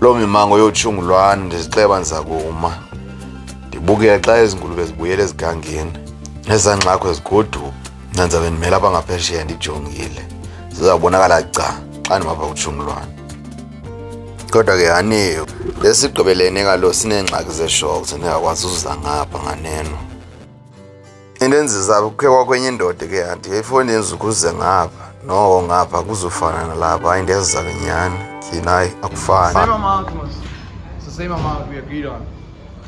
Loo mimango yotshingu lwani ndizixeba ndiza kuma ndibukele xa ezi ngulube zibuyela ezigangeni ezaa ngxakho ezigoduka mna ndizabe ndimele apha ngaphesheya ndijongile zizawubonakala ca xa ndimapha kutshungu lwani kodwa ke haniyo lesigqibelene kalo sineengxaki zeshoko zendingakwazi uzuza ngapha nganeno into enzisa kuphekwa kwenye indoda ke anti ifoni yenzukuze ngapha noko ngapha kuzofana nalapha hayi ndiyazisa kenyani tyhini hayi akufani Same amount, Mos. It's the same amount we agreed on.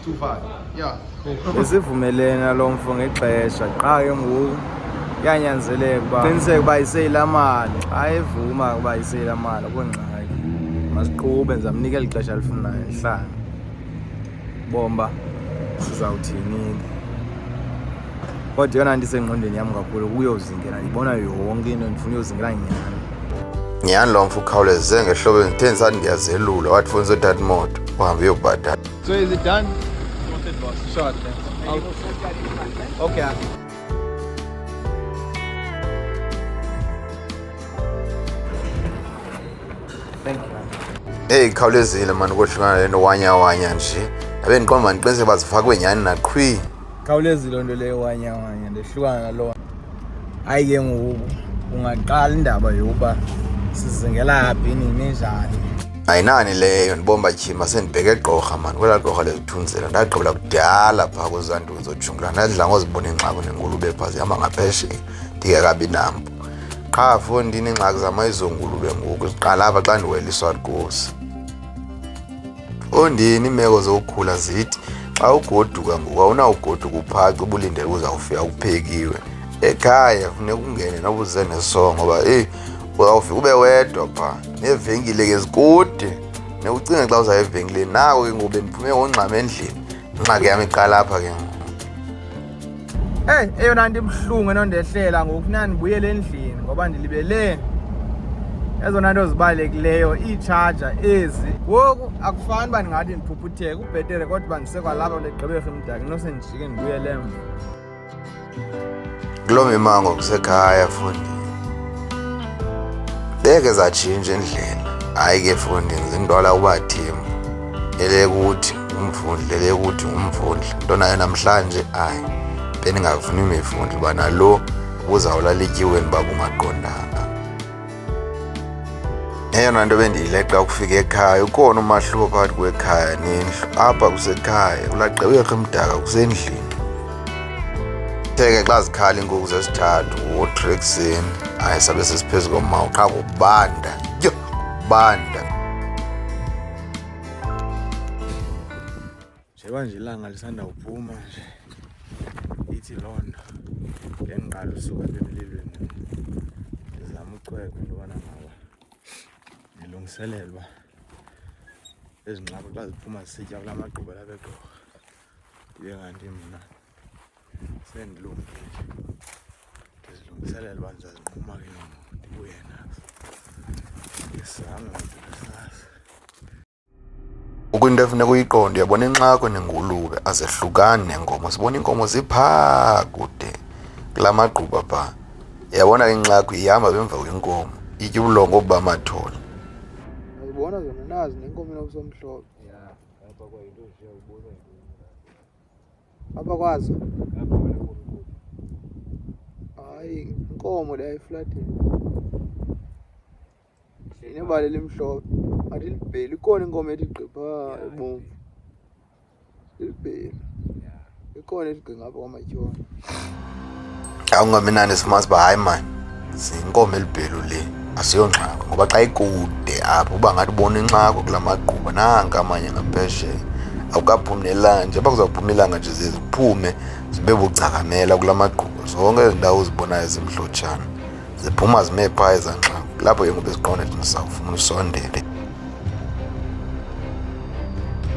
Two five. Yeah. Cool. besivumelene nalo mfo ngexesha qha ke ngoku kuyanyanzeleka uba qiniseke uba iseyila mali xa evuma ukuba iseyila mali akho ngxaki masiqube ndizamnika eli xesha alifunayo ndihlanga bomba sizawuthini kodwa yona ndisengqondweni yam kakhulu kuyozingela ndibona yonke into ndifuna uyozingela nyhani nyhani lo mfo ukhawuleze ngehlobo ndithe ndisathi ndiyazelula wathi funa uzothatha imoto uhambe uyobhatala so is it done Short, okay Thank you. Hey, khawulezile mani kodwa le nto wanya wanya nje. Abe ndiqomba mandiqiniseke bazifakwe nyhani naqhwi. Khawulezile loo nto leyo wanya wanya ndehlukana naloo. Hayi ke ngoku ungaqala indaba yokuba sizingela phi nini njani. Ayinani leyo ndibomba tyhima sendibheke gqorha mani kwelaa gqorha lezithunzela ndagqibela kudala phaa kwezaa nto zojungula ndadla ngozibona ingxako nengulube phaa zihamba ngaphesheya ndingekabi nampo qha fo ndineengxaki zamayizongulube ngoku ziqala apha xa ndiwela iswargosi ondini iimeko zokukhula zithi xa ugoduka ngoku awunawugoduka uphaca ubulindele uzawufika kuphekiwe ekhaya funeka ungene nobuze nesongo ngoba eyi uzawufika ube wedwa pha neevenkile ke zikude nekucinga xa uzaya evenkileni nako ke ngoku bendiphume ngongxama endlini ingxaki yam iqala apha ke ngoku Hey, eyona nto ibuhlungu enondehlela ngoku funeka ndibuyele endlini ngoba ndilibele ezona nto zibalulekileyo iitshaja ezi ngoku akufani uba ndingathi ndiphuphutheke ubhetere kodwa uba ndisekwalapha legqibekho imdaki nose ndijike ndibuyele emva kuloo mimango kusekhaya fundi beke zatshintsha endlela hayi ke fundi zindwala ubathembu elekuthi umvundle le ukuthi ngumvundle into nayo namhlanje ayi beningavuni imivundle uba nalo ubuzawulala ityiweni uba bungaqondanga eyona nto bendiyileqa ukufika ekhaya ukhona umahluko phakathi kwekhaya nendlu apha kusekhaya ulaqewerha emdaka kusendlini theke xa zikhala iinkukhu zesithathu wothu ekuseni hayi sabe sesiphezu komawu qha kubanda yho kubanda Njengoba nje ilanga lisanda kuphuma nje ithi loo nto ngendiqala usuka apha emlilweni ndizama ucweka into yobana ngaba ndilungiselelwa ezi ngxaki xa ziphuma zisitya kula magquba labegqorha ndibe kanti mna sendilungile ndizilungiselela uba ndizazinquma ke ngoku ndibuye nazo ndisame ndisazi ukwinto efuneka uyiqonde uyabona inxako nengulube azehlukani nenkomo sibona iinkomo ziphaa kude kula magquba phaa yabona ke inxako ihamba bemva kwenkomo itye ubulongo obuba amathole ayibona zona nazi nenkomo enokusomhlophe Hapa kwazo. Hapa wale kwa. Ai, nkomo le flat. Inebale limhlophe. Athi libheli ikhona inkomo ethi gqipha ebomvu. Libheli. Ikhona ethi gqinga apha kwamatyhona. awungaminani simazi uba hayi mani zinkomo elibhelu le asiyongxako ngoba xa ikude apho uba ngathi ubona inxako kula magquba nanka amanye ngaphesheya awukaphumi nelanje uba kuzawuphuma ilanga nje ziye ziphume zibe bucakamela kula magquba zonke ezi ndawo uzibonayo zimhlotshana ziphuma zime phaa ezanxaku lapho ke ngoku eziqonda ethi ndisawufuna usondele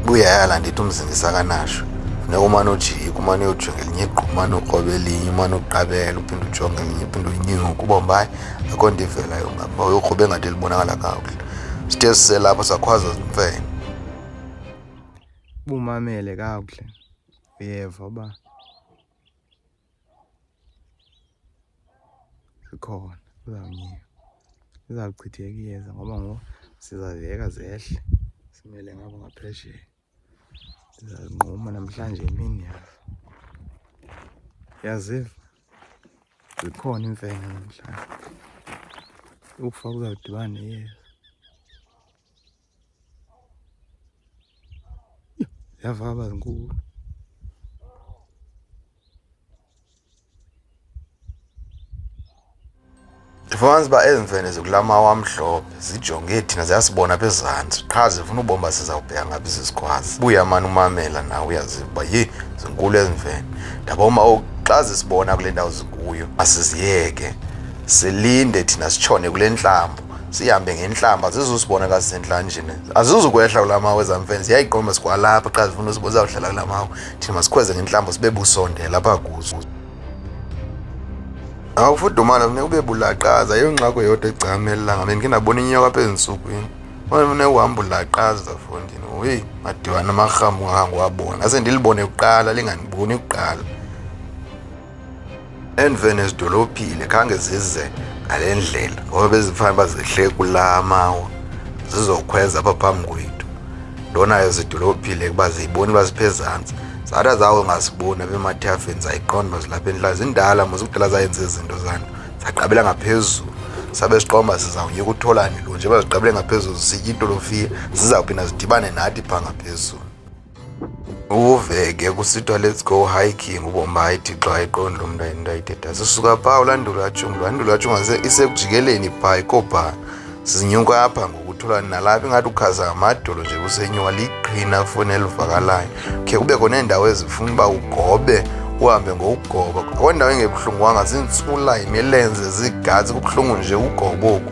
buyayala ndithi umzingisa kanasho funeka umane ujika umane uyojonga elinye igqu umane ukroba elinye umane uqabela uphinde ujonge elinye uphinde unyuke uba mbayi akho nto ivelayo ngaba uyokroba engathi libonakala kakuhle sithe siselapho sakhwaza zimfene bumamele kakuhle uyeva uba zikhona zizawunyika zizawuchitheka iyeza ngoba ngoku sizaziyeka zehle simele ngabo ngaphesheya ndizazinquma namhlanje imini yazo yaziva zikhona iimfene namhlanje ukufa kuzawudibana neyeza yavaba zinkulu ndifumanisa uba ezi mfene zikulaa mawa amhlophe zijonge thina ziyasibona apha ezantsi qha zifuna ubomba sizawubheka ngaphi sisikwazi buya mani umamela nawe uyaziva uba yi zinkulu ezi mfene ndaboma oku xa zisibona kule ndawo zikuyo asiziyeke silinde thina sitshone kule ntlambo sihambe ngentlamba zizusibonela sisentlanjini azizukwehla kula mawe zamfene ziyayiqomba sikwalapha xa zifuna usibo zizawuhlala kula mawe thina masikhweze ngentlamba sibe busondela apha kuzo awufudumana funeka ube bulaqaza yiyo ngxako yodwa egcamelela ngabe ndike ndabona inyoka apha ezintsukwini funeka uhamba ulaqaza fondini uyi madibana amarhamu angangiwabona ase ndilibone kuqala linganiboni kuqala endiveni ezidolophile khange zize ngale ndlela ngoba bezifanele uba zihle kula mawa zizokhweza apha phambi kwethu ndonayo zidolophile kuba ziyiboni uba ziphezantsi zathi zawo ngasiboni abemathafeni zayiqonda uba zilapha endlala zindala mos kudala zayenza izinto zanto zaqabela ngaphezulu sabe siqomba sizawunyeka utholani lo nje baziqabele ngaphezulu zisitya itolofiya zizawuphinda zidibane nathi phaa ngaphezulu uve ke kusithiwa let's go hiking ubomayi thixo ayiqondi lo mntu ayinto ayithethayo sisuka phaa ulandula atyungu landula atyungu isekujikeleni phaa ikobhaa sizinyuka apha ngokuthula nalapha ingathi ukhaza ngamadolo nje kusenyuka liqhina foni elivakalayo khe kubekho neendawo ezifuna uba ugobe uhambe ngokugoba akho ndawo engebuhlungwanga ziintsula yimilenze ziigazi kubuhlungu nje ugoboku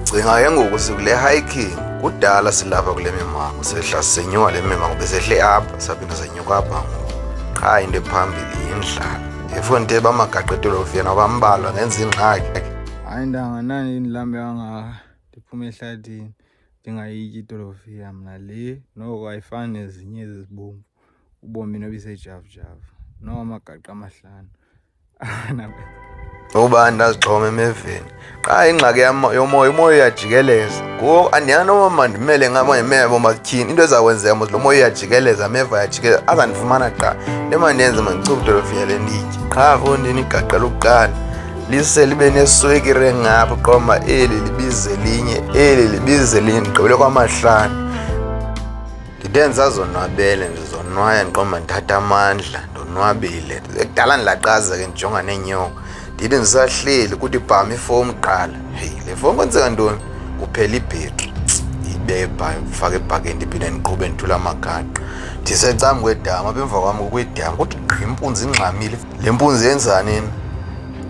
Cinga ke ngoku sikule hiking kudala silapha kule mimango sehla sisenyuka le mimango besehle apha saphinde senyuka apha ngoku qha into ephambili yindlala efonte bamagaqetelo fiyena bambalwa ngenza ingxaki hayi ntanga nani ndilambe kangaka ndiphume ehlathini ndingayityi itolofiya mna le noko ayifani nezinye ezizibomvu ubomi nobisejavujavu noko amagaqa amahlanu uba ndazixhoma emeveni qha ingxaki yomoya umoya uyajikeleza ngoku andiyana noba mandimele ngabo ndimebo matyhini into ezakwenzeka mos lo moya uyajikeleza ameva ayajikeleza azandifumana qha into emandenze mandichubudolofiya le nditye qha fondini igaqa lokuqala lise libe neswekire ngapha qoma eli libize linye eli libize linye ndigqibele kwamahlanu Ndenza zonwabele ndizonwaya ndiqomba ndithatha amandla ndonwabile ekudala ndilaqaza ke ndijonga neenyoka ndithi ndisahleli kuthi bham ifowuni kuqala heyi le fowuni kwenzeka ntoni kuphela ibhetri ibebha ndifake ebhakeni ndiphinde ndiqhube ndithula amagaqa ndisecam kwedama apha emva kwam kukwedama kuthi gqi impunzi ingxamile Le mpunzi yenzanini?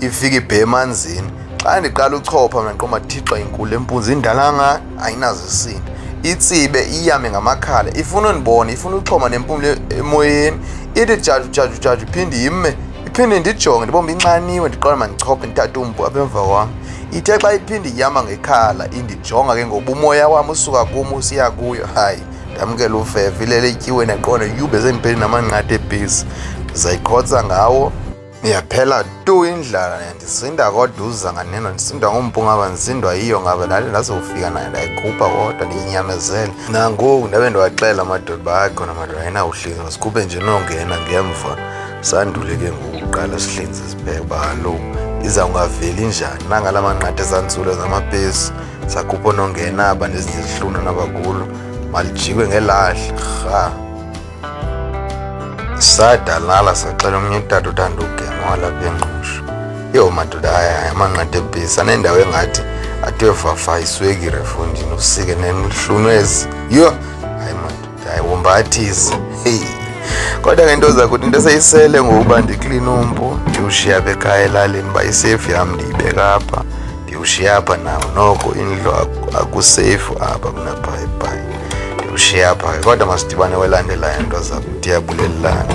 Ifika ibhe emanzini. Xa ndiqala uchopha mna ndiqoma thixo inkulu le mpunzi indala ngani ayinazisini. Itsibe iyame ngamakhala ifuna undibona ifuna uxhoma nempumlo emoyeni ithi jaju jaju jaju iphinde yime iphinde ndijonge ndibombe inxaniwe ndiqala mandichophe ndithathe umpu apha emva kwam ithe xa iphinde iyama ngekhala indijonga ke ngoba umoya wam usuka kum usiya kuyo hayi ndamkela ufefe ilele ityiwe neqondo yube sendipeli namanqatha ebhisi ndizayiqhotsa ngawo yaphela tu indlala ndisinda kodwa uza nganeno ndisindwa ngumpu ngaba ndisindwa yiyo ngaba ndale ndazofika nayo ndayikhupha kodwa ndiyinyamezele nangoku ndabe ndiwaxela amadoda uba akhona madoda ayinawuhlinza masikhuphe nje nongena ngemva sandule ke ngokuqala sihlinze sibheke uba kaloku iza kungaveli njani nangala manqatha esantsulo zamapesi sakhupha onongena aba nezinye izihlunu nabakulo malijikwe ngelahle rha sadalala saxela omnye utata uthanda ugema walapha engqusho yho madoda ayaya amanqathi ebhisa nendawo engathi athiwe vafa iswekire fondini usike nenhlunu ezi yho Hayi wombathisi. Hey. Kodwa ngento zakuthi into eseyisele ngokuba ndiklina umpu ndiwushiya apha ekhaya elalini uba isefu yam ndiyibeka apha ndiwushiya apha nawo noko indlu akusefu apha kunabhayibhayi ndiwushiya apha ke kodwa masidibane welandelayo nto zakuthi yabulelelana